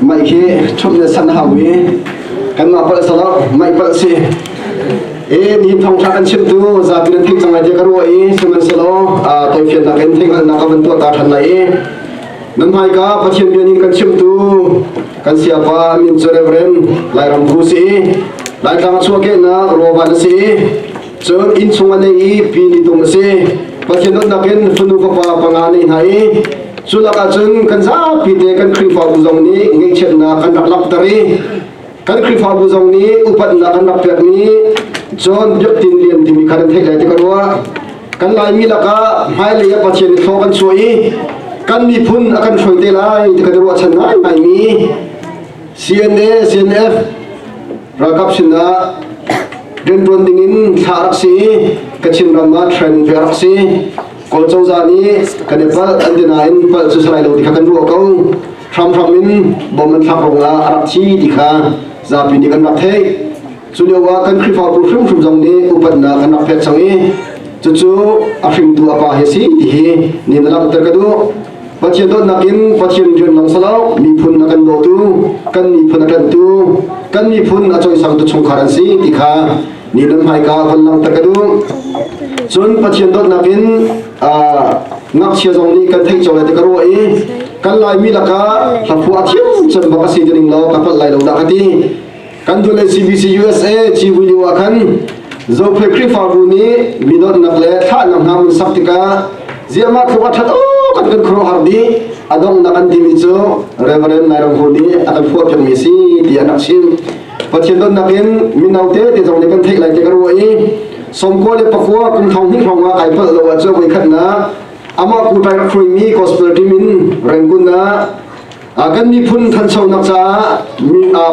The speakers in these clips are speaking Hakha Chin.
Mah hi chumh le san hau i kanmah palh salo mah palh si. E ni thongtha kan chim tu zabi nan thik cang lai ka ruwa i siman salo toy fian nak in thik nak ka ban tua ta than lai i nan mai ka pathian bia ni kan chim tu kan sia pa min chu reverend lairam bru si lai tlang chuwa ke na roba na si Cun inn chung a leh i pi nih dum a si. Pathian dawtnak in fanu fapa panga nei hna i cu lakah cun kan zapi te kan Khrihfabu zong nih ngeihchiatnak kan rak langhter i kan Khrihfabu zong nih upatnak an rak pekmi John Biaktin Lian timi kha nan theih lai ti ka ruah. Kan Laimi lakah hmailei ah Pathian nih thlaw kan chuah i kan miphun a kan hruai te lai ti kan ruahchan ngai ngaimi CNA-CNF ralkap sinah rianṭuan dingin thla rak si i Kachin ram ah training fe rak si Kawl cozah nih kan i palh an ti nain palh cu salai lo ti kha kan ruah ko hramhram in bom an thlak ruangah a rak thi ti kha zapi nih kan rak theih Cu lio ah kan Khrihfabu hrimhrim zong nih upatnak an rak pek cang i cucu a hringtu a pa hi a si ti hi ni na langhter ka duh. Pathian dawtnak in Pathian rian lam salo miphun a kan dawtu kan miphun a kantu kan miphun a cawisangtu chungkhar an si ti kha ni nan hmaika van langhter ka duh. Cun Pathian dawtnak in ngakchia zong nih kan theih cang lai ti ka ruah i kan laimi lakah hlaphuah thiam cem bak a si ti ning law ka palh lai lo dah ka ti. kan dul le CBC USA civui ah khan Zophei Khrihfabu nih mi donnak le thlahnak hna mun sak tikah ziahmah tluk a thato kan kan khuaruahar dih a donghnak an timi cu Reverend Nairanghu nih a kan fuah piakmi si tiah nak chim Pathian donnak in mino te te zong nih kan theih lai te ka ruah i somko le pakua kum thong hnih hrawng kai pal lo a cu voi khatna ama kutai khuaimi gospel team in rengun na kan miphun thanchonak caah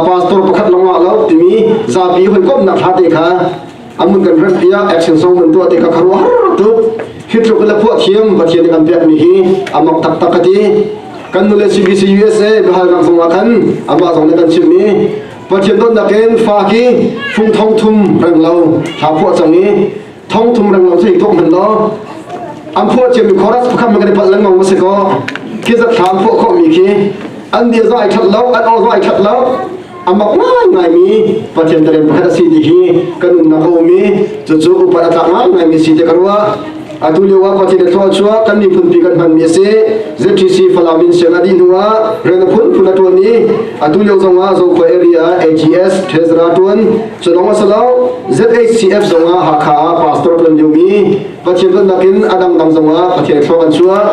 pastor pakhat lawngah lo timi zapi hawikomnak hate kha amun kan rep piah action song man tuah te ka kharwa tuk hitluk la phuah thiam pathian kan pek mi hi amak tak tak kati kan nule CBC USA bahal gang song khan ama song ne kan chim mi pathian don nakin fa ki phung thong thum rang lo hla phuah chang ni thong thong rang lo thei thong hman lo an phuah ciam mi chorus pakhat man kan pal lang ngong se ko ki zat thlam phuah kho mi khi an dia za ai that lo an ol za ai that lo amak ngai ngai mi pathian taren pakhat asi ti hi kan unna ko mi chu chu upat ata ngai ngai mi si te karwa atu lewa pati le thwa chua kan ni phun pi kan man mi se ZTC Falamin sena di nuwa rena phun phun atoni atu lew zonga zo ko area AGS treasurer tuan Cu lawng a si lo, ZACF zongah Hakha ah pastor ṭuan liomi Pathian dawtnak in a dangdang zongah Pathian thluak an chuah.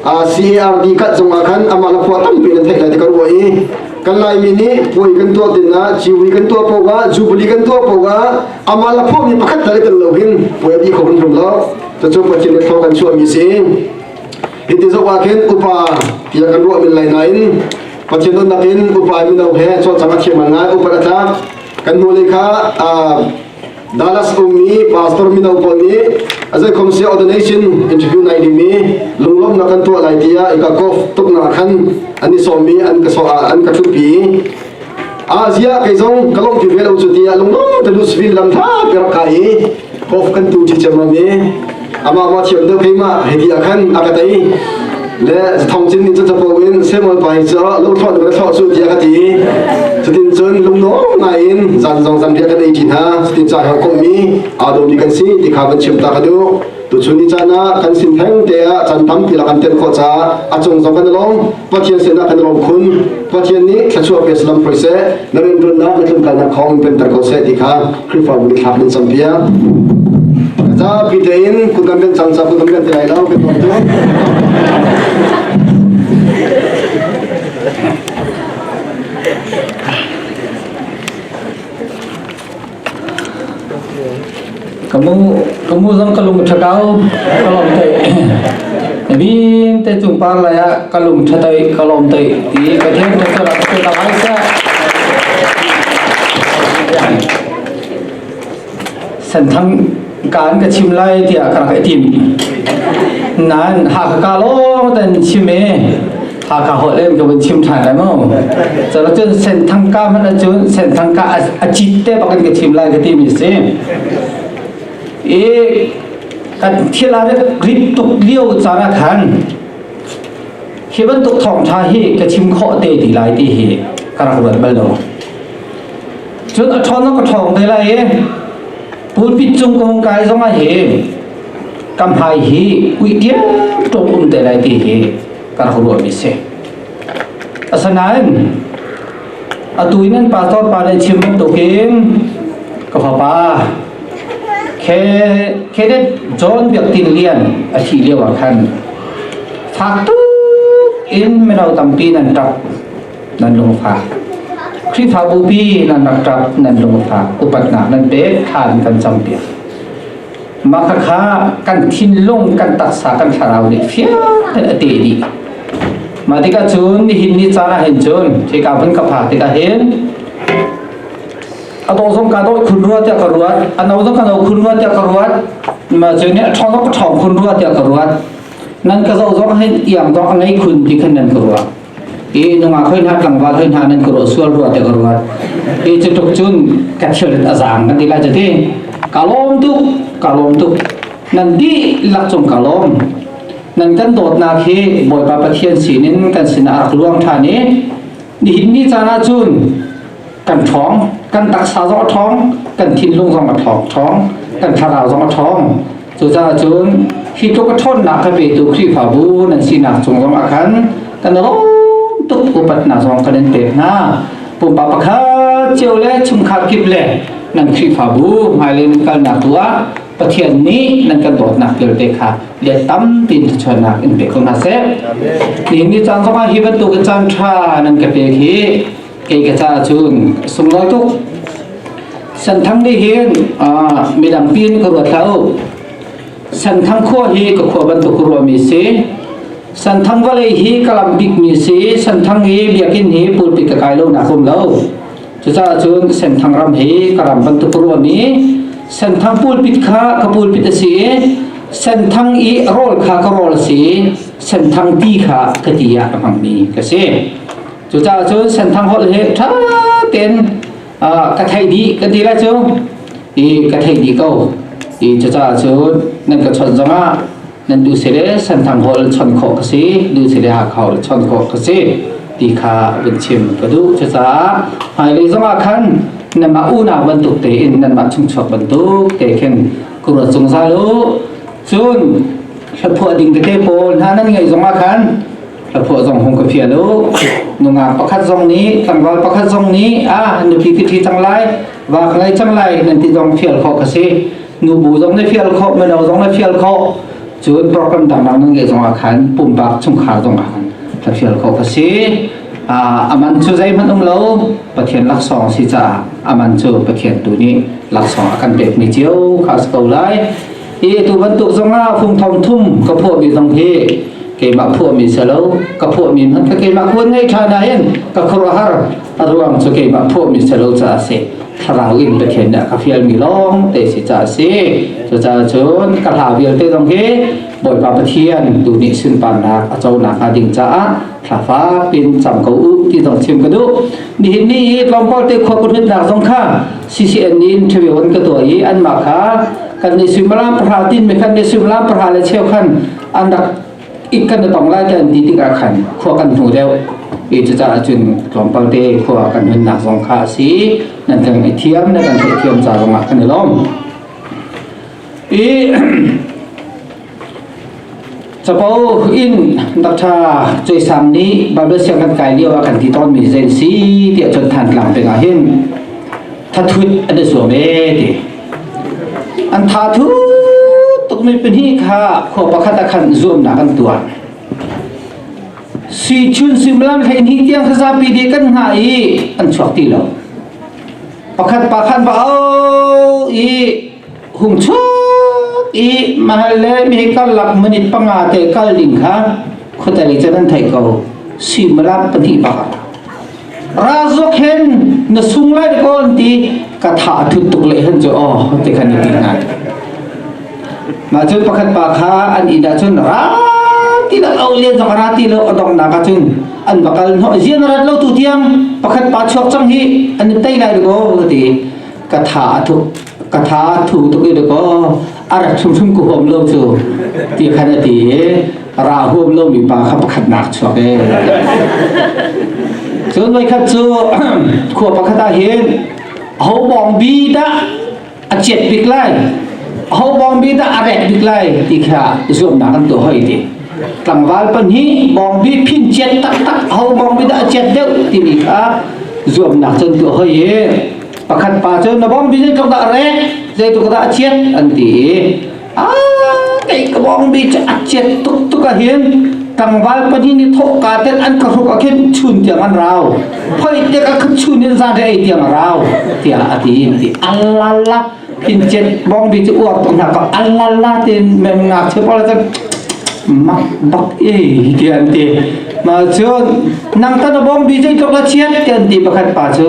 Ah CARD kat zongah khan amah le khua tampi nan theih lai ti kan ruah i kan Laimi nih puai kan tuah dinah ciwi kan tuah poah jubili kan tuah poah amah le khua mi pakhat tal kan lo hin puai a bi kho hin rum lo cucu Pathian le thluak an chuahmi si hi ti zok ah khin upa tiah kan ruah min lai nain Pathian dawtnak in upa mino he cawcang a thiam ngai upat a tlak kan hnulei kha Dallas ummi pastor mino pawl nih azai khomsia ordination interview nai dimi lunglomnak kan tuah lai tiah ika kof tuknak khan an i sawmi an ka so an ka thupi azia kai zong ka lompi ve lo cu tiah lunglom te Louisville lam tha perak ka i Hope kan tu ti cem ami ama ma thiam deuh keimah hei ti ah khan aka tei le thong cin ni capo in semol pai ca lo tho le tho su ti ka ti tutin cun lungno ngai in zan zong zan bia kan ei thi hna tutin cha ka ko mi a do ni kan si ti kha ban chim ta ka du tu chun ni chana kan sin theng te a chan tam ti la kan ten kho cha a chung zong kan long pathian se na kan rom khun pathian ni thlachuah pe salam proi se naren run na na tlum ka na khom pen tar ko se ti kha Khrihfabu nih thlak nan cam piak. Zapi tein kun kan ben cang cang kun kan ben ti lai lo kan tuan tu. Kamu ka mu zong ka lung ṭha kau ka lawm tei vin te cung par lai ah ka lung ṭha tei ka lawm tei i ka theng te ka rak te ta mai sa san thang kan ka chim lai tiah ka rak tim nan ha ka ka lo ten chim e ha ka ho len ka vun chim than lai mo chalo chun sen thang ka man chun sen thang ka a chit te bakin ka chim lai ka ti mi si e kan thil ah rit tuk lio cara khan khi bantuk thawng tha hi ka chim khawh te ti lai ti hi ka rak ruat bal lo cun a thon ka thong te lai e pulpit cung kong kai zong a hi kam hai hi ui tiang tok um te lai ti hi ka rak ruat mi se asanain atu nan pastor pa le chim bantuk in ka fapa khe khedet john biak tin lian a thi lio ah khan thak tu in melo tampi nan tap nan lung fa khrihfa bupi nan rak tap nan lung fa upat nak nan pek khan kan cham piak Mah khakha kan thinlung, kan taksa, kan thlarau nih fiang a te dih. Mah tikah cun nihin ni caan ah hin cun khi ka vun ka pha tikah hin a to zong ka doi khun rua tiah ka ruat a no zong ka no khun rua tiah ka ruat ma cu nih a thong zong ka thong khun rua tiah ka ruat nan ka zo zong hin iang zong a ngei khun ti khan nan ka ruat i nungak hoi hna tlangval hoi hna nan kuro sual rua te ruat i cu tuk cun ka thil a zang kan ti lai cu ti ka lom tuk ka lom tuk nan di lak cung ka lom nan kan dawtnak hi bawipa pathian sinin kan sinah rak luang ṭhan i nihin ni caan ah cun kan ṭhawng kan taksa zong a ṭhawng kan thinlung zong a ṭhawng kan thlarau zong a ṭhawng cucaah cun hi tluk a ṭhawnnak kha petu khrihfabu nan sinak cung zong ah khan kan lawm tuk upatnak zong kan in pek hna pumpak pakhat cio le chungkhar kip le nan khrihfabu hmailei nan kalnak tu ah Pathian nih nan kan dawtnak vialte kha lian tampi in chuannak in pe ko hna seh ni ni caan zongah hi bantuk caan ṭha nan ka pek hi kei ka ca cun sunglo tuk santhang nih hin midang pi in ka ruat hlah u santhang khua hi ka khua bantuk rua mi si santhang vale hi ka lam bik mi si santhang hi biakin hi pulpit ka kai lo nak um lo cucaah cun senthang ram hi ka ram bantuk rua mi senthang pulpit kha ka pulpit asi i senthang i rol kha ka rol si senthang ti kha ka ti ya ka hmang mi ka si Cucaah cun Senthang holh hi ṭha tein ka theih dih ka ti lah cu i ka theih dih ko i cucaah cun nan ka chawnh zongah nan tu sile Senthang holh chawnh khawh ka si lu sile Hakha holh chawnh khawh ka si ti kha vun chim ka duh cucaah hmailei zongah khan nanmah unau bantuk tein nanmah chungchuak bantuk te khin kura cung zal u cun hlaphuah ding tete pawl hna nan ngeih zongah khan Hlaphuah zong hung ka fial u. Nungak pakhat zong nih, tlangval pakhat zong nih, ah nupi ka thi cang lai, va ka ngei cang lai, nan ti zong fial khawh ka si. Nubu zong nih fial khawh, mino zong nih fial khawh. Cun program dangdang nan ngeih zong ah khan pumpak chungkhar zong ah khan ka fial khawh ka si. Ah, aman cu zeihmanh um lo, Pathian laksawng si caah aman cu Pathian tu nih laksawng a kan pekmi cio khas ko lai. hi tu bantuk zong ah fung thong thum ka phuah mi zong hi keimah phuah mi se lo ka phuah mi hmanh kha keimah kuan ngei tha na in ka khuruhar ruang cu keimah phuah mi se lo ca si thlarau in Pathian nih ka fial mi long te si ca si cu ca cun ka hla vialte zong hi Bawipa Pathian tu nih sunparnak a co nak hnga ding caah thla fak in cam ko u ti dong chim ka duh nihin ni hi tlawmpal te khua kuthnitnak zong kha CCN nih interview an ka tuah i an mah kha kan ni suimilam pahra tin me khan ni suimilam pahra le cheu khan an rak ik kan tong lai ta an ti tikah khan khua kan hnu deuh i cucaah cun tlawmpal te khua kan hunnak zong kha si nan kan i thiam nan kan theih thiam ca zongah kan i lawm i Capo in Dr. Cui Sang nih Bible siang kan kai lio ah kan ti tawnmi zei si tiah cun than tlang pek ah hin thathut an i zuam e ti an tha thu tukmi pin hi kha khua pakhat ah khan zuamnak an tuah sui chun suimlam hlein hi tiang zapi de kan nga i an chuak ti lo pakhat pa khan ba o i hung chuk i mahal le mi karlak minit panga te kal ding kha khuatali cun an thei ko simalap pahnih bak razok hen na sung lai ko an ti ka tha thut tuk le hen chu oh te kan ti na ma cun pakhat pa kha an in da cun ra ti la au lian zong ra ti lo adong na ka cun an bakal no zian rat lo tu tiang pakhat pa chuak chang hi an tai lai ko ti ka tha a thu ka tha thu tuk i dekaw a rat hrimhrim ku huam lo cu ti khan a ti i ra huam lo mi pa kha pakhat nak chuak e cun voi khat cu khua pakhat ah hin ho bong bi da a chiat bik lai ho bong bi da a rek bik lai ti kha zuamnak an to hoi ti tlangval pan hi bong bi phin chiat tak tak ho bong bi da a chiat deuh ti mi kha zuamnak cun to hoi e pakhat pa cu na bawng bicun ka dah rek zeitu ka dah chiat an ti i a kei ka bawng bi cu a chiat tuk tuk ah hin tangval pahnih nih thawhka ten an ka hruk ah khin chun tiang an rau phoi te ka khat chun in zan re ei tiang a rau tiah a ti in ti allala in chiat bawng bi cu uap tuk hna ka allala tin mem ngak che pala tan mak bak e ti an ti ma cu nang ta na bawng bi cu ka chiat ti an ti pakhat pa cu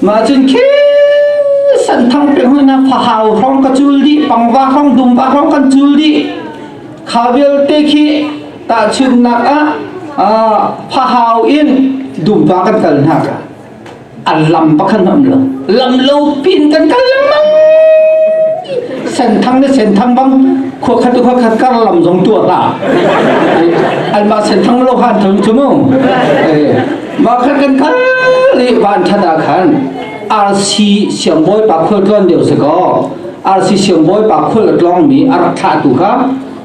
Mah cun khi santhang pe huna fahau hrong ka cul di pangva hrong dumva hrong kan cul di kha vialte khi tahchunnak ah fahau in dumva kan kal hna ka an lam pakhan am lo lam lo pin kan kal lengmang senthang ne senthang bang khua khat khua khat kar lam zong tua ta an ba senthang lo han thang chu mu Maka kan khat le van that ah khan RC siangbawi pa khul tluan deu se ko RC siangbawi pa khul tlong mi a rak thlah tu kha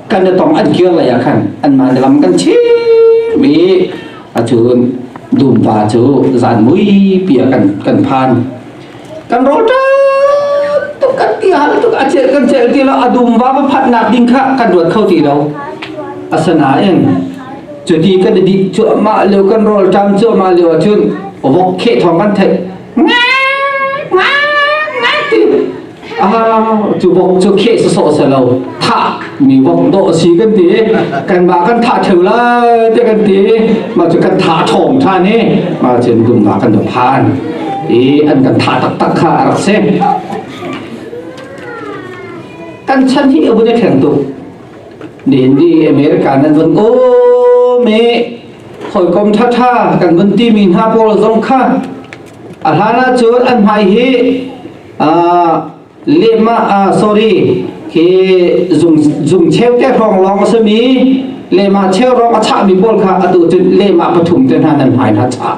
kan da tong an kir lai khan an man lam kan chi mi achun dum pa chu zan mui pia kan kan phan kan rol ṭap tuk kan ti hal tuk a celh kan celh ti lo a dum va phatnak ding kha kan ruat kho ti lo asanain cuti kan di cuahmah leo kan rol ṭam cuahmah leo ahcun ovok khe thong kan theih ngai ngai ti a cu bok cu khe sasawh sa lo thah mi vok dawh si kan ti kan ba kan tha theu la te kan ti ma chu kan tha thom than ni ma chen dum ga kan do phan i an kan tha tak tak kha rak se kan chan hi abu de kheng tu ni indi america nan vun o me khoi kom tha tha kan vun ti mi na pol zong kha alhana chur an mai hi a lehmah ah sorry hi zung zung cheu te hrawng lawng a simi lehmah cheu rong a chahmi pawl kha atu cu lehmah pathum te hna nan hmai hna chah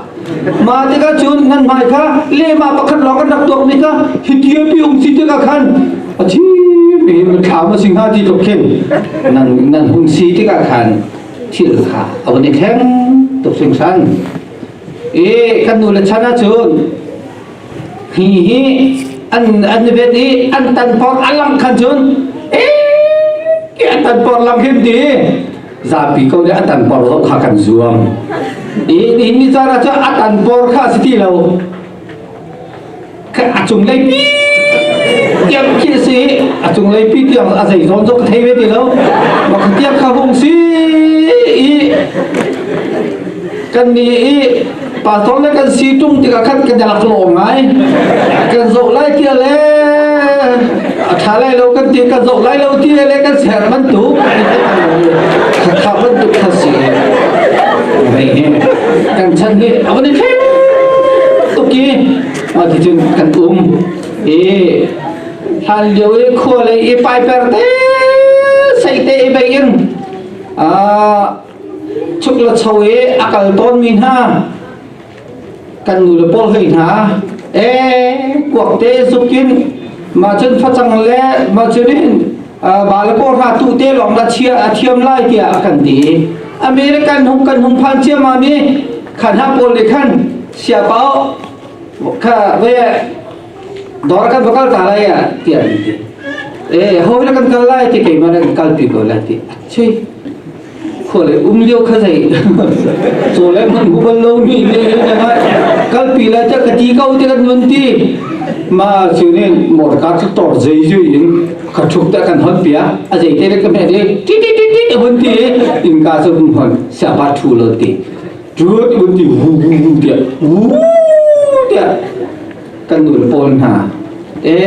ma tikah cun nan hmai kha lehmah pakhat lawng an rak tuakmi kha hithiapi um si tikah khan a thi mi thlam a sing ha ti tok khin nan nan hung si tikah khan thil kha a van i thleng tuk sing san e kan nu le chan ah cun hi hi an an vet i an tan por a lang khan cun e ke an tan por lang him ti zapi ko le an tan por lo kha kan zuam in in ni zara chu a tan por kha si ti lo ka a chung lei tiang khi si a chung lei pi tiang a zei zawn zo ka thei ve ti lo ma ka tiang kha hung si i kan ni i pastor na kan si tung tikah khan kan rak lawm ngai kan zoh lai tia le a tha lai lo kan ti kan zoh lai lo ti le kan ser man tu kha man tu kha si mai ne kan chan hi abon ni thim tuki ma ti tun kan um e hal liu e khua le e pai per te sai te e bai in a chuk le cho i a kal tawnmi hna kan nu le paul hei hna e kuak te zukin ma cun facang le ma cun in ba le paul hna tu te lawng la chia a thiam lai tiah kan ti american hung kan hung phan cia ma mi khan ha paul le khan sia pao kha ve Dawr kan va kal ta lai ah tiah an ti. Eh ho na kan kal lai ti keimah na kan kalpi ko lai ti. Chui. Khua le um liu kha zei. Cho le man hubal lo mi le le ma kalpi lai ta ka ti ko ti kan nun ti. Ma chu ne mor ka chu tor zei ju in ka thuk ta kan hon pia. A zei te le ka me de ti ti ti ti hun ti in ka chu hun hon sa ba thu lo ti. cut uti wu wu wu tiah wu tiah kan ul pawl hna e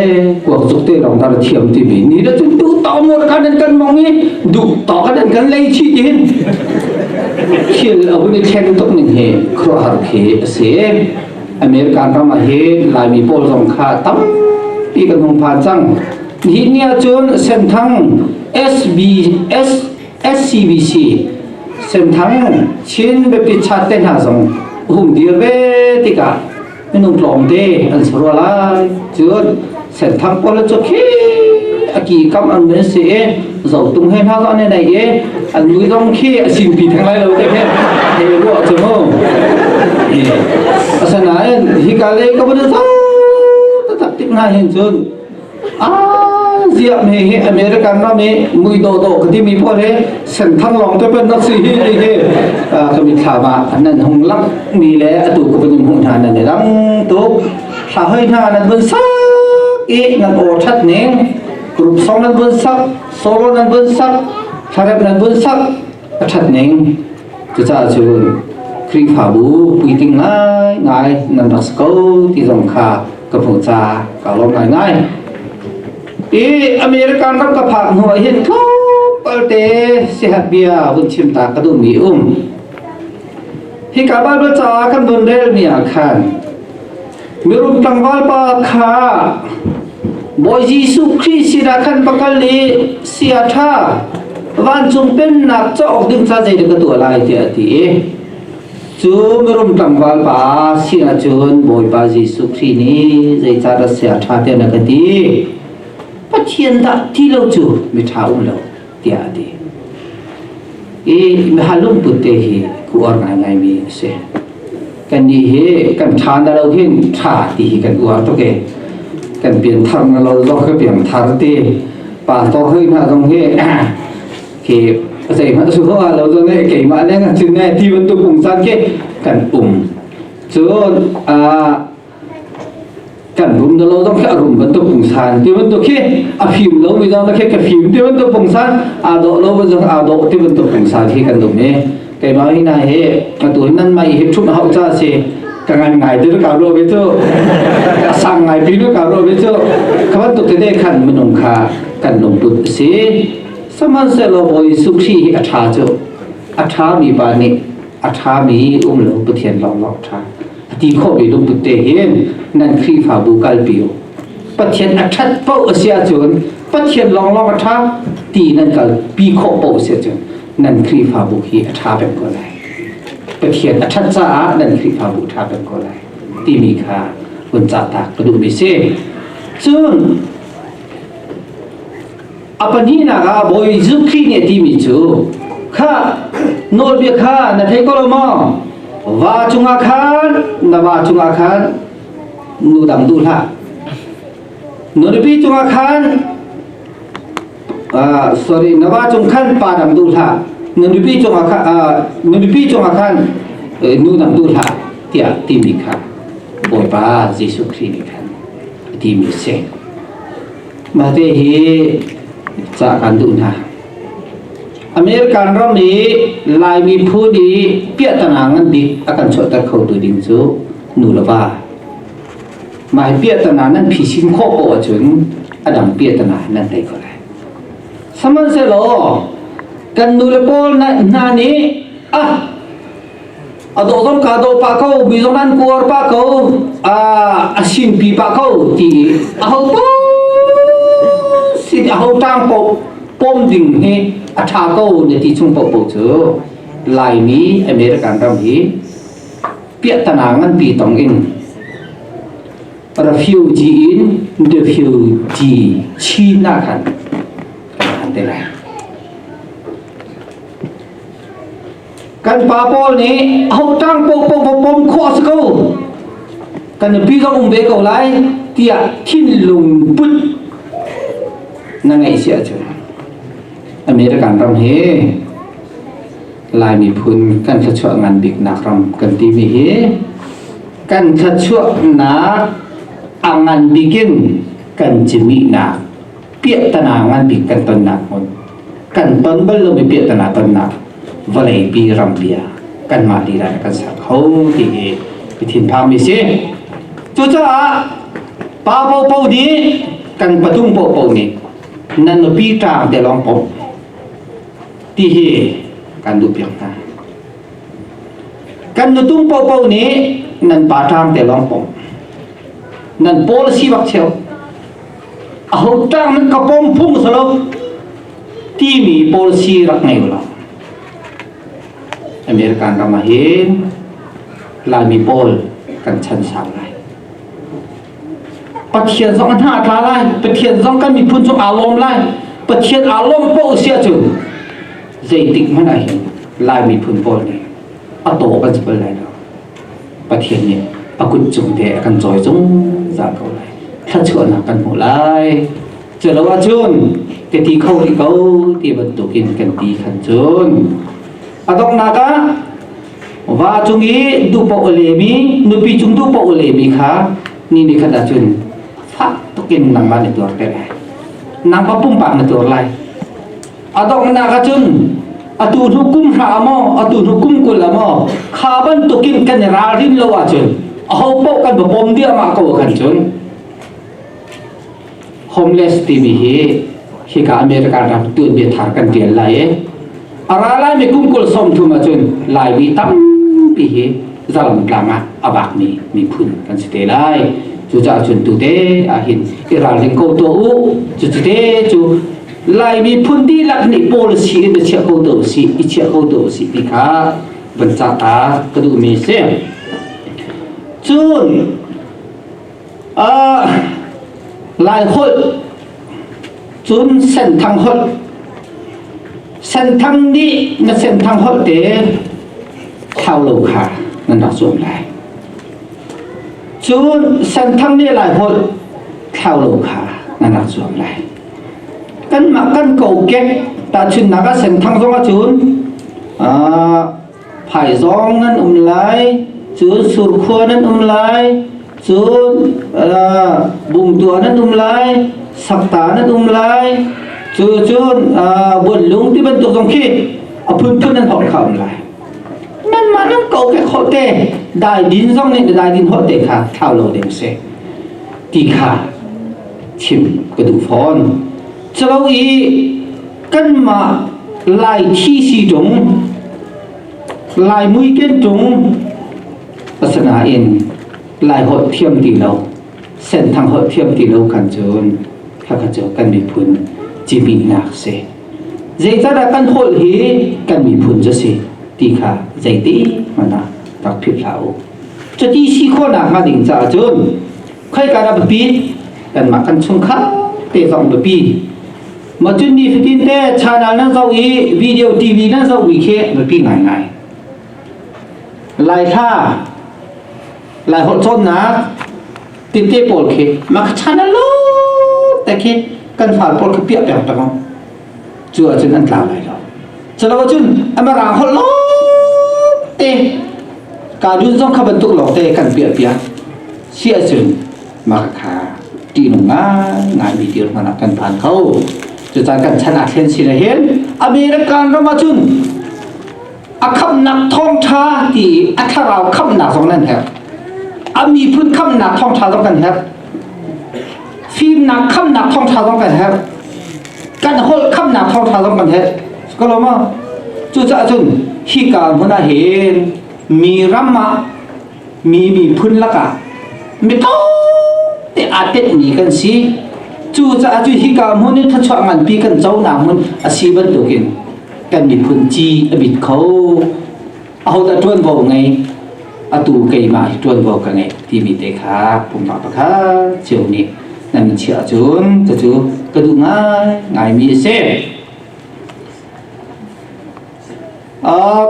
kuak cuk te lawng tar thiam ti mi ni da cun tu to mor kan an kan mong i duh to kan an kan lei chi ti hin thil a hun i thleng tuk ning he khruah har khi a si American ram ah hi Laimi pawl zong kha tampi kan hung phan cang ni nia cun senthang SBS SCBC Senthang Chin Baptist Church te hna zong hung dir ve tikah minung tlawmte an sa rua lai cun Senthang pawl cu khi aki kam an men si e zo tung he hna zon ne nei e an lui dong khi asin pi thang lai lo te he he ruwa chu mu asanain hi ka le ka bun ta tak tik na hin cun Ah, ziah me hi American ram hi ngui do do ka ti mi po he senthang long te pen nak si hi hi hi ka mi thla ba nan hung lak mi le atu ku pen hu hna nan rang tu thla hoi hna nan bun sak e nan o that ning group song nan bun sak solo nan bun sak tharep nan bun sak a ṭhat ning. Cucaah cu Khrihfabu puitling ngaingai nan rak si ko ti zong kha ka hmuh ca ka lawm ngaingai. I American ram ka phak hnu ah hin tlawmpalte sihat bia hun chim ta ka duhmi um. Hika Baibal caah kan don rel ni ah khan mirum tlangval pa kha Bawi Jesuh Khrih sinah khan va kal i sia ṭha vancung pennak cauk ding ca zeidah ka tuah lai tiah a ti i cu mirum tlangval pa sinah cun Bawipa Jesuh Khrih nih zeicah dah sia ṭha tiah na ka ti Pathian dah ti lo cu miṭha um lo tiah a ti. I mihal lungput te hi ku uar ngaingai mi a si. Kan ni hi kan tha na lo hin tha ti hi kan uar tuk e. Kan pian thar na lo zo ka pian thar ti. Pa to hoi na zong hi khi zei hmanh su ho lo zo ne ke ma leng chin ne ti bantu pung san ke kan um. Cun a kan rum da lo zong khi a rum bantuk pungsan ti bantuk khi a fim lo mi zong khi ka fim ti bantuk pungsan aa dawh lo bantuk aa dawh ti bantuk pungsan khi kan dum e keimah hi nai hi ka tu nan mai hi thup hau cha si ka ngai ngai te ka ro be chu ka sang ngai pi ka ro be chu ka ban tu te de khan munung kha kan lung put si samanselo bo Jesuh Khrih hi a tha chu a tha mi pa nih a tha mi um lo Pathian long long tha a ti khawh mi lungput te hin nan Khrihfabu kalpi u Pathian a ṭhat paoh a si ahcun Pathian lawnglawng a ṭha ti nan kal pi khawh paoh a si ahcun nan Khrihfabu hi a ṭha peng ko lai Pathian a ṭhat caah nan Khrihfabu ṭha peng ko lai timi kha hun cahtak ka duh mi si cun A pahnihnak ah Bawi Jesuh Khrih nih a timi cu kha nawlbia kha na theih ko lo maw? Va cungah khan na va cungah khan nu dang duh hlah. Nunupi cungah khan uh, sorry na va cung khan pa dang duh hlah. Nunupi cungah khan uh, nunupi cungah khan uh, nu dang duh hlah tiah timi kha Bawipa Jesuh Khrih nih khan a timi a si. Mate hi ca kan duh hna. American ram i Laimi phu nih piahtangah ngan bik a kan chuahter khotu ding cu nu le va. Mah piahtangah nan phisin khawh ko ahcun a dang piahtangah nan tei ko lai. Sihmanhsehlaw kan nu le pawl hna nih ah ado dom ka do pa ko mi zong nan kuar pa ko a a sin pi pa ko ti a ho po si a ho tang po pom ding he a tha ko ne ti chung po po chu laimi american ram hi piah tana ngan pi tong in refugee in refugee china khan han te lai kan pa pawl nih hauhtang pohpoh pom khawh a si ko kan nupi kan um ve ko lai tiah thinlung put na ngeih si ahcun American ram hi Laimi phun kan thluachuah ngan biknak ram kan timi hi kan thluachuahnak a ngan bikin kan cimihnak piahtana ngan bik kan tonnak hmun kan ton bal lo mi piahtana tonnak vawlei pi ram bia kan mah lila kan sak ho ti hi thin phang mi si cucaah pa po po ni kan patum po po ni nan nu pi tang te long pom ti hi kan du piang ta kan nu tung po po ni nan pa tang te long pom nan policy bak cheu Ahotang nan ka pom phung salo timi policy rak ngei lo. American ram ah hin Laimi pawl kan chan sang lai. Pathian zong hna tla lai, Pathian zong kan miphun cu aa lawm lai. Pathian aa lawm poh sia cu zeitik hmanh ah hin Lai miphun pawl nih a taw kan si bal lai lo. Pathian nih a kut cung te a kan cawi zungzal ko lai. Thluachuahnak kan hmuh lai. Culo ahcun ka ti kho rih ko ti bantukin kan ti khan cun a donghnak ah va cung i duhpaoh a lemi nupi cung duhpaoh a lemi kha ni ni khat ahcun fak tukin nangmah na tuar te lai nangmah pumpak na tuar lai a donghnak ahcun atu hnu kum hra maw atu hnu kum kul a maw kha bantukin kan i ralrin lo ahcun aho paoh kan va pom diahmah ko kan cun homeless timi hi hi ka America ram tu bia thar kan tial lai e ara lai mi kum kul som thum ahcun lai mi tampi hi zalam tlang ah abak mi mi phun kan si te lai cu ca chun tu te ahin i ralring ko to u cu te cu Lai miphun dihlak nih policy in na chiah ko to si i chiah ko to si ti kha van ca ta ka duhmi si cun uh, lai holh cun senthang holh senthang nih na senthang holh te thau lo kha nan rak zuam lai cun senthang nih lai holh thau lo kha nan rak zuam lai kanmah kan kokek tahchunnak a senthang zong ahcun phaizawng nan um lai cu surkhua nan um lai cun bungtua nan um lai sakta nan um lai cu cun buanlung ti bantuk zong khi a phunphun nan hot kha um lai nan mah nan kokek hote dai din zong nih dai din hote kha thau lo ding se ti kha chim ka duh fawn calo i kanmah lai thi si ṭung lai mui ken ṭung asinain lai holh thiam ti lo senthang holh thiam ti lo kan cun hakha cu kan miphun cibihnak si zeicahdah kan holh hi kan miphun cu si ti kha zeiti hmanh ah rak philh hlah u cuti si khawhnak hnga ding caah cun khaika dah bipi kanmah kan chung kha te zong bipi macun ni fitin te channel nan zo i video tv nan zo wi khe bipi ngai ngai lai tha lai hot chon na timte pol khi mak channel lo te khi kan fal pol khi pia peng tang cu ahcun an tla lai lo calo cun amar aa holh lo te ka dun zong kha bantuk lo te kan piah piak si ahcun maka kha tihnung ngai ngai mi tir hmana kan phan kho cucaan kan chan ah thlen sin hin american ram ahcun a khamnak thawngtha ti a thlarau khamnak zong nan herh a miphun khamnak thawngtha zong kan herh fimnak khamnak thawngtha zong kan herh kan holh khamnak thawngtha zong kan herh ka lawm cucaah cun hika hmun ah hin mi ram ah mi miphun lakah mi te aa tenmi kan si cucaah cu hika hmun in thachuah nganpi kan conak hmun a si bantukin kan miphun ci a bit kho ahodah ṭuanvo ngei atu keimah hi ṭuanvo ka ngei timi te kha pumpak pakhat cio nih nan chiah cun ka cu ka duh ngai ngaimi a si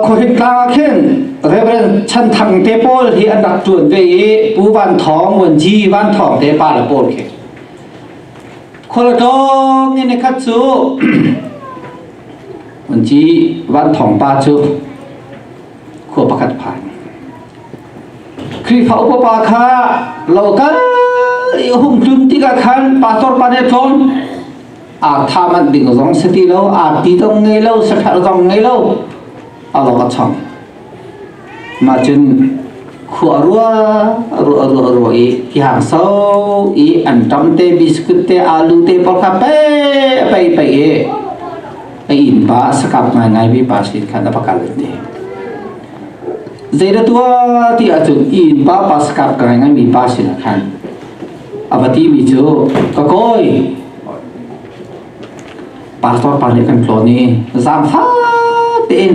khuahip tlang ah khin Reverend Chan Thang te pawl hi an rak ṭuan ve i Pu Van Thawng Wan Ji Van Thawng te pa le pawl khi khualtlawng in khat cu an ci van thong pa cu khua pakhat phan Khrihfa upapa kha lo kal i hum tlun tikah khan pastor pa nih tlon aa tham an ding zong si ti lo aa ti zong ngei lo sahrel zong ngei lo alo a chang Mah cun khua a rua a rua a rua a rua i hi hang so i an tam te biscuit te alu te pawl kha pe pe pe i a inn pa sakap ngaingai mi pa sin khan a va kal ti zeida tuah ti ahcun inn pa pa sakap ka ngaingai mi pa sin khan a va ti mi cu ka koi pastor pa nih kan tlawn i zaam fa tein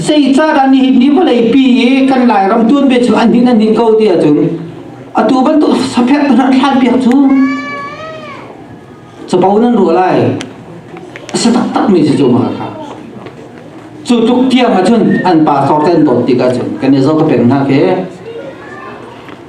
Zeicahdah nihin ni vawleipi i kan Lairam tuan ve cu an hnin an hnin ko ti ahcun atu bantuk saphek hna thlan piak cu capo nan ruah lai a si taktakmi si cu maka kha cu tluk tiang ahcun an pa kor ten dawt tik ahcun kan i zo ka peng hna ke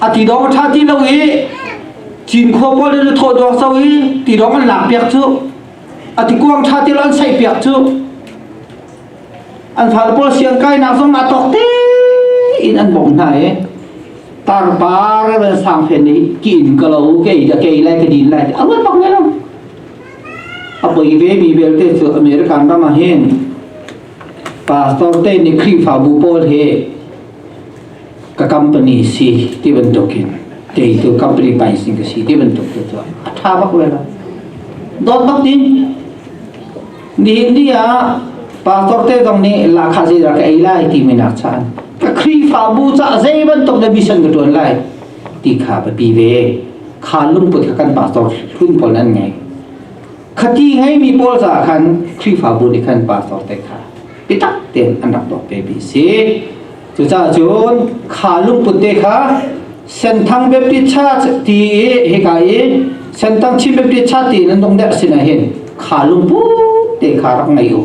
a ti lawng a ṭha ti lo i Cinkhua pawl le Luthaw duang so i ti lawng an lak piak cu a ti kuang ṭha ti lo an saih piak cu an fale pawl siang kainak zong aa tawk te in an bawm hna i tarpar van sang fen i ki in ka lo ke da ke lai ke din lai a ruat bak ne lo a poi ve mi belte cu American ram ah hin pastor te ni khrifa bu pawl he ka company si ti bantuk in kei tu company pricing ka si ti bantuk tu cu a tha bak le la dot bak ni ni ni ah pastor te dong nih la kha zei da ka ei lai ti mi nak chan ka khrifa bu cha zei bantuk na mission ka tuan lai ti kha ba pi ve kha lung put ka kan pastor hlun pol nan ngai khati hai mi pol sa khan khrifa bu ni khan pastor te kha biatak tein an rak doh ve mi si cucaah cun kha lungput te kha senthang baptist church ti i hika i senthang chin baptist church ti nan dong der sin hin kha lungput te kha rak ngei u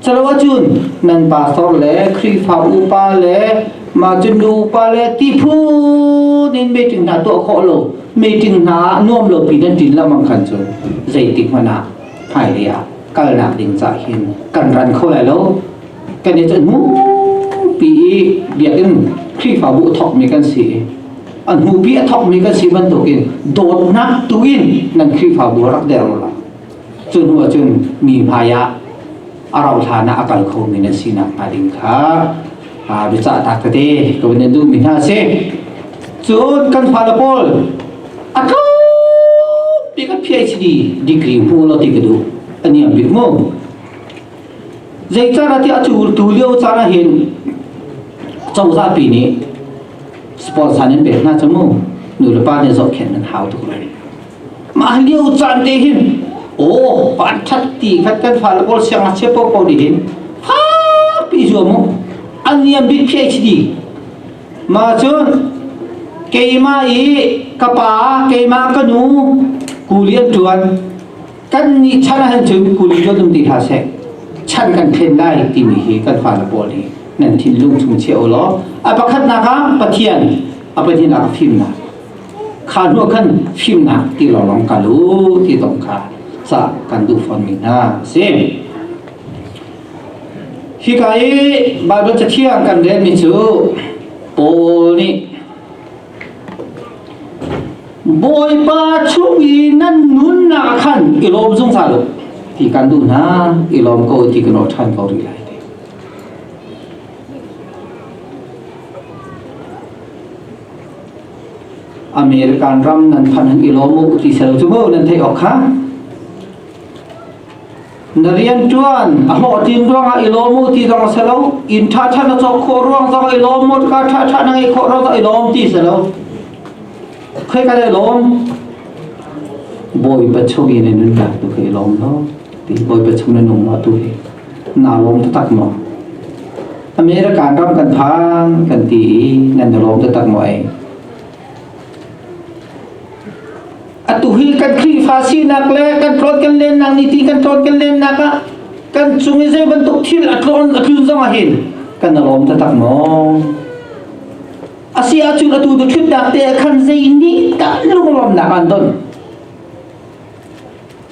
chalo cun nan pastor le khrifa upa le ma cun nu upa le ti phu in meeting hna to kho lo meeting hna nuam lo pi nan tin lamang khan cu zeitik mana hmailei ah kalnak ding cah hin kan ran kho lai lo kan i cun pi i biakinn khrihfabu thokmi kan si an hmupi a thokmi kan si bantukin dawtnak tu in nan khrihfabu rak der la cu hnu cun mi hmai ah a rauhhlan ah a kal khomi na sinak hnga ding kha biacahtak tete ka van duhmi hna si cun kan fale pawl a kaupi ka PhD degree hmu lo ti ka duh ani am bit mu zei cara ti a tu lio cara hin cozah pi nih sponsor nan pek hna chamu nu le pa ne zok khen nan hau tuk lai mah lio caan te hin oh pan that ti khat kan fa la bol siang a che po po ni hin ha pi zo mu aniam bit phi hdi ma chun keima i ka pa keima ka nu kulian tuan kan ni chan a han chun kuli jo dum ti hla se chan kan phen lai ti mi hi kan fa la bol hi nan thin lung chung che o lo a pakhat na ka pathian a pathian a ka phim na Kha hnu khan fimnak ti lawng kal u ti dong kha ca kan duh fawnmi hna a si. Hika i Baibal Cathiang kan relmi cu Paul nih Bawipa chung i nan nunnak khan i lawm zungzal u ti kan duh hna i lawm ko ti kan awh ṭhan ko rih lai. American ram nan phan hung i lawm u ti selo cu mu nan theih awk kha na rian tuan a hlawh tin ruangah i lawm u ti zong a selo in tha tha na cawk khawh ruang zong i lawm u ka tha tha na ngei khawh ruang zong i lawm ti selo khoi ka le lawm bawi pa chung in nan dak tu kai lawm lo ti bawi pa chung na nung lo tu hi naa lawm taktak maw? America ram kan phan kan ti i nan lawm taktak maw ai? Atu hi kan Khrihfa sinak le kan tlawn kan lennak ni ti kan tlawn kan lennak ah kan cung i zei bantuk thil a tlawn a tlun zong ah hin kan lawm taktak maw? Asi ahcun atu tu ṭhutnak te khan zei nih dah lunglawmnak an ton?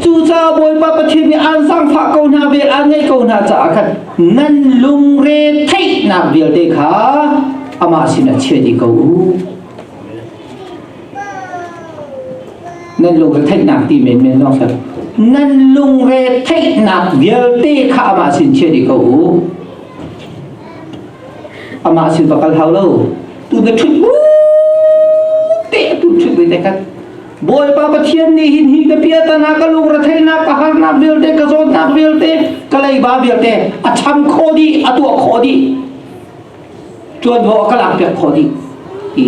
Cucaah Bawipa Pathian nih aan zaangfah ko hna ve aan ngaih ko hna caah khan nan lungre theihnak vialte kha amah sinah chia dih ko u. Nan lungre theihnak ti men men no sir. Nan lungre theihnak vialte kha amah sin chia dih ko u. Amah sin va kal hau lo. Tu da thut bu te tu thut ve te kan. Bawipa Pathian nih hin hi ka piatana ka lung retheihnak ka harnak vialte ka zawtnak vialte ka leiba vialte a cham khawh dih a tuah khawh dih tuanvo a ka lak piak khawh dih i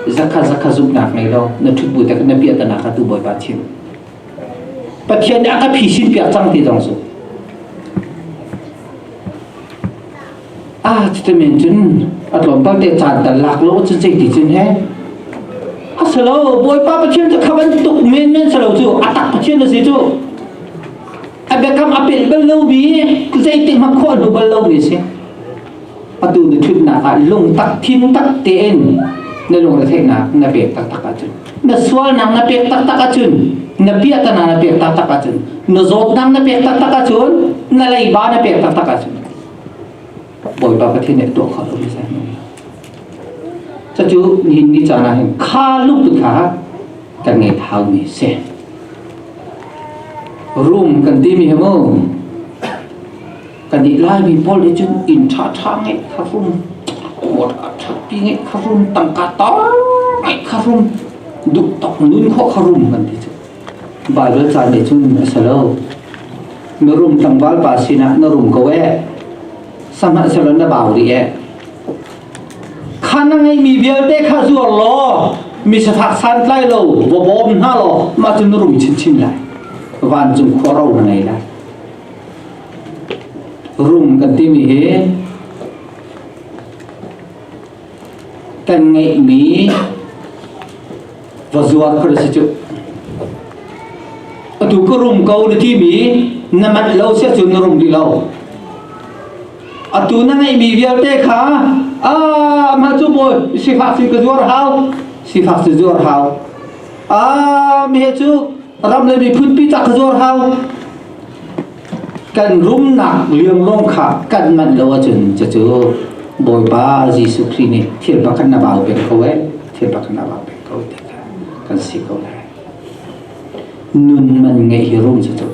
zakha zakha zumhnak ngei lo na thut bu te na piatana ka tu Bawipa Pathian Pathian nih a ka phisin piak cang ti dong zu Ah, cutin cun a tlawmpal te caan tal lak lo cu zeiti cun he. A si lo, Bawipa Pathian cu kha bantuk menmen si lo cu a tak Pathian a si cu. A biakam a pil bal lo mi, zeitik hmang khawh lu bal lo mi si. Atu na thutnak ah lung tak thin tak tein na lungretheihnak na pek taktak ahcun na sualnak na pek taktak ahcun na piahtana na pek taktak ahcun na zawtnak na pek taktak ahcun na leiba na pek taktak ahcun Bawipa Pathian nih tuah kha hlum seh. Cucu nihin ni caan ah hin kha lungput kha kan ngei thaumi si. Rum kan timi hi mu kan i laimi pawl hi cu inn ṭha ṭha ngeih kha rum kuat a ṭhapi ngeih kha rum tangka ta ngeih kha rum duk tok nun kho kha rum kan ti cu Baibal caan nih cun a si lo. Na rum tlangval pa sinah na rum ko e. Sanghah selo na bau rih e. Kha na ngeimi vialte kha zuar law mi safak santlai lo va bawm hna law mah cu na rum chinchin lai. Vancung khuaro na ngei lai. Rum kan timi hi kan ngeihmi Wa zuar ka si cu. Atu ka rum ko na ti mi na mat lo sia cun na rum rih lo. Atu na ngeih mi vialte kha ah ma cu mawi sifak sin ka zuar hau sifak sin zuar hau ah mi he cu ram le miphun pi tak ka zuar hau kan rumnak liam lawng kha kan manh lo ahcun cucu Bawipa Jesuh Khrih nih thil pakhat na bau peng ko eh thil pakhat na bau peng ko ti kha kan si ko lai nun man ngeih hi rum cucu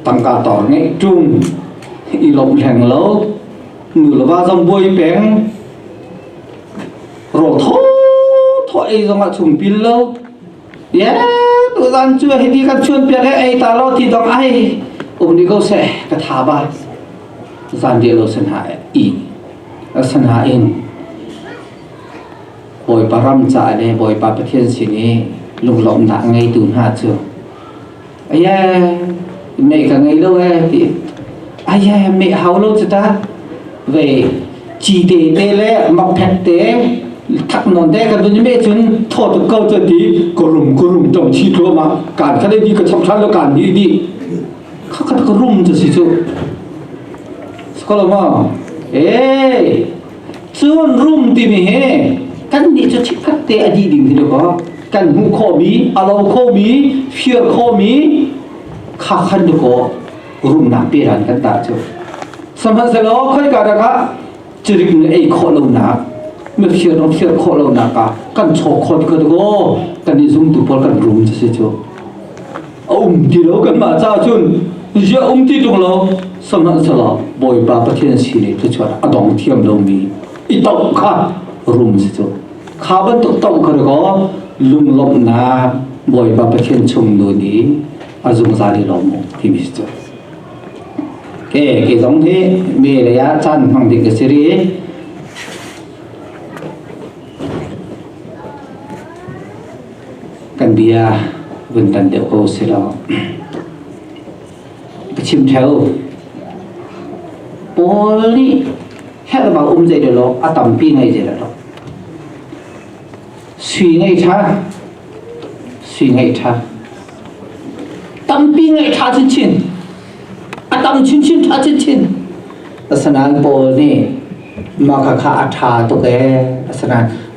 tangka tor ngeih tum i lomh hleng lo nu le va zong buai peng ro tho tho ei zong ah chung pil lo ye tu zan chu hi bi kan chuan piak e ei ta lo ti dong ai um ni ko se ka tha ba zan de lo sen ha i san ha in boy param cha le boy pa pathian sin i lunglom da ngei tu hna chu Aye, meh ka ngei lo e ti. Aye, meh hau lo cu ta. Ve, ci te te le mok phek te, thak non te ka dun meh cun thaw tuk ko cu ti. Korum korum tong chi tlo ma. Kan ka le di ka chom than lo kan di di. Kha ka ka rum tu si cu. Sekolah ma. Eh, Cun rum timi hi kannih cu chikkhat te a dih ding ti lo kan hmuh khomi a lo khomi fir khomi kha khan tu ko rumnak pe ran kan tar cu sahmanhsehlaw khoika dah ah cirik na ei khawh lonak na fir na fir khawh lonak ah kan chaw khawt ko kan i zumtu pawl kan rum cu si cu a um ti lo kan mah ca cun zia um ti tung lo sanghah sala bawipa pathian si ne te chuan a dong thiam lo mi i tau kha rum si cu kha ban tuk tau kar ko lunglawm na bawipa pathian chung nu ni a zungzal i lawm ti mi si cu ke ke zong thi me le ya chan hmang dik siri kan bia vun tan deuh ko si lo ka chim theo paul nih helbang um zei lo a tampi ngai je lo suy ngai tha suy ngai tha tampi ngai tha chin chin a tam chin chin tha chin chin asnan paul nih maka kha a tha to ke asnan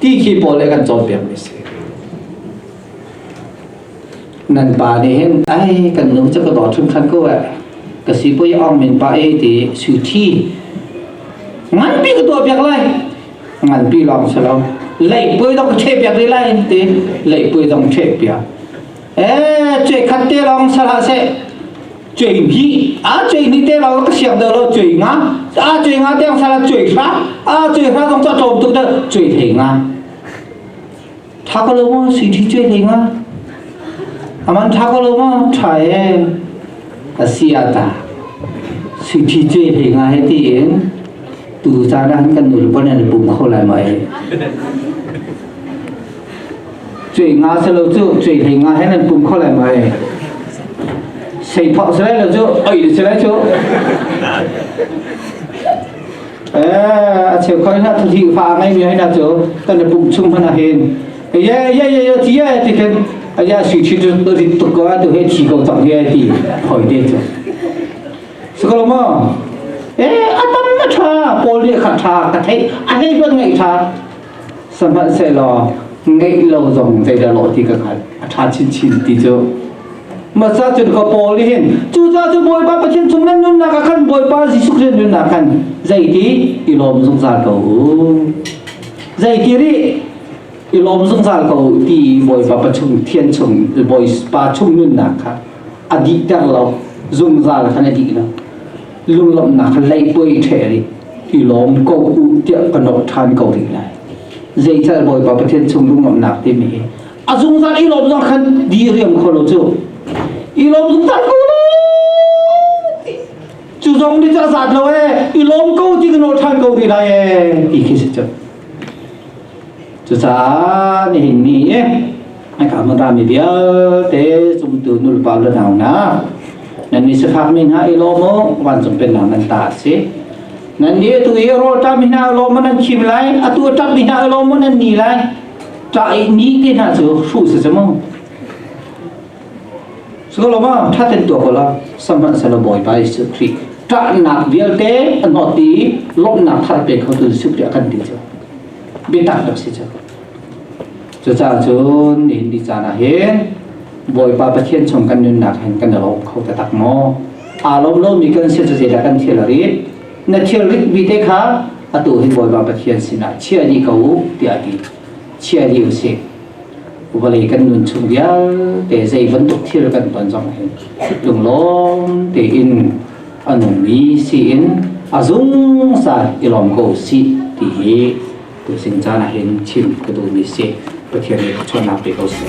ti khi pawl le kan cawnpiakmi si nan pa nih hin ai kan nu cu ka daw thun khan ko eh ka si poi ong min pa e ti su thi ngan pi ka tua piak lai ngan pi long se lo lei poi dong che piak ri lai ti lei poi dong che piak e che khat te long sala se cei hi a cei ni te lo ka siam de lo cei nga a cei nga te sa la cei hra a cei hra dong ta chom tuk de cei thei nga tha ko lo ma si thi cei thei nga aman tha ko lo ma tha e asia ta si thi cei thei nga he ti in tu ta na han kan nul bon an bung kho lai mai cuai nga se lo cu cuai hlei nga he nan pum kho lai mai sei thok se lai lo cu oi de se lai cu eh a cheu koi na thu thi fa ngai mi hai na chu kan na pum chung hana hin ye ye ye ye ti ye ti ken a ya si chi tu tu ri tu ko tu he chi ko tang ye ti hoi de chu skolmo eh atam na tha pol de kha tha ka thei a hei ban ngai tha Sihmanhsehlaw ngeih lo zong zeidah lawh ti ka hngalh a ṭha chinchin ti cu. Masa cun ka Paul nih hin cucaah cu Bawipa Pathian chung nan nunnak ah khan Bawipa Jesuh Khrist nunnak khan zeiti i lawm zungzal ko u. Zeiti rih i lawm zungzal ko u ti Bawipa pa chung thian chung Bawipa chung nunnak kha a dihter lo zungzal khan a dih lo. lunglawmhnak leipuai ṭhe rih i lawm ko u tiah ka nawt ṭhan ko rih lai zeical Bawipa Pathian chung lunglawmhnak timi hi a zungzal i lawm zong khan diriam kho lo cu i lawm zungzal ko cu zong ni cu a zat lo e i lawm ko ti ka nawt ṭhan ko rih lai e ti khi si cu Cucaah nihin ni i aka manrami vialte zumtu nulpa le nau hna nan ni sifakmi hna i lawm u vancung pennak nan ta a si nan ni atu i rawlṭami hna lawm u nan khim lai atu a ṭapmi hna lawm u nan ni lai ṭah i ni te hna cu hruh si si mu So lo ma thaten tua kola samhan sala boy by Yesu Christ ṭahnak vialte an hot ti lomnak thar pe kho tu Yesu Christ kan ti chu bitak dak si chu cu ca cun in di cana hin bawipa pathian chung kan nunnak hin kan lo kho ta tak mo alom lo mi kan se se da kan thil ri na thil rik bi te kha atu hin bawipa pathian sina chia di ko tia ti chia di u si vawlei kan nun chung vialte zei bantuk thil kan ton zong lunglawm tein a nungmi siin a zungzal i lawm ko si ti hi tu sin caan ah hin chim ka duhmi si Pathian nih chuannak pe ko si.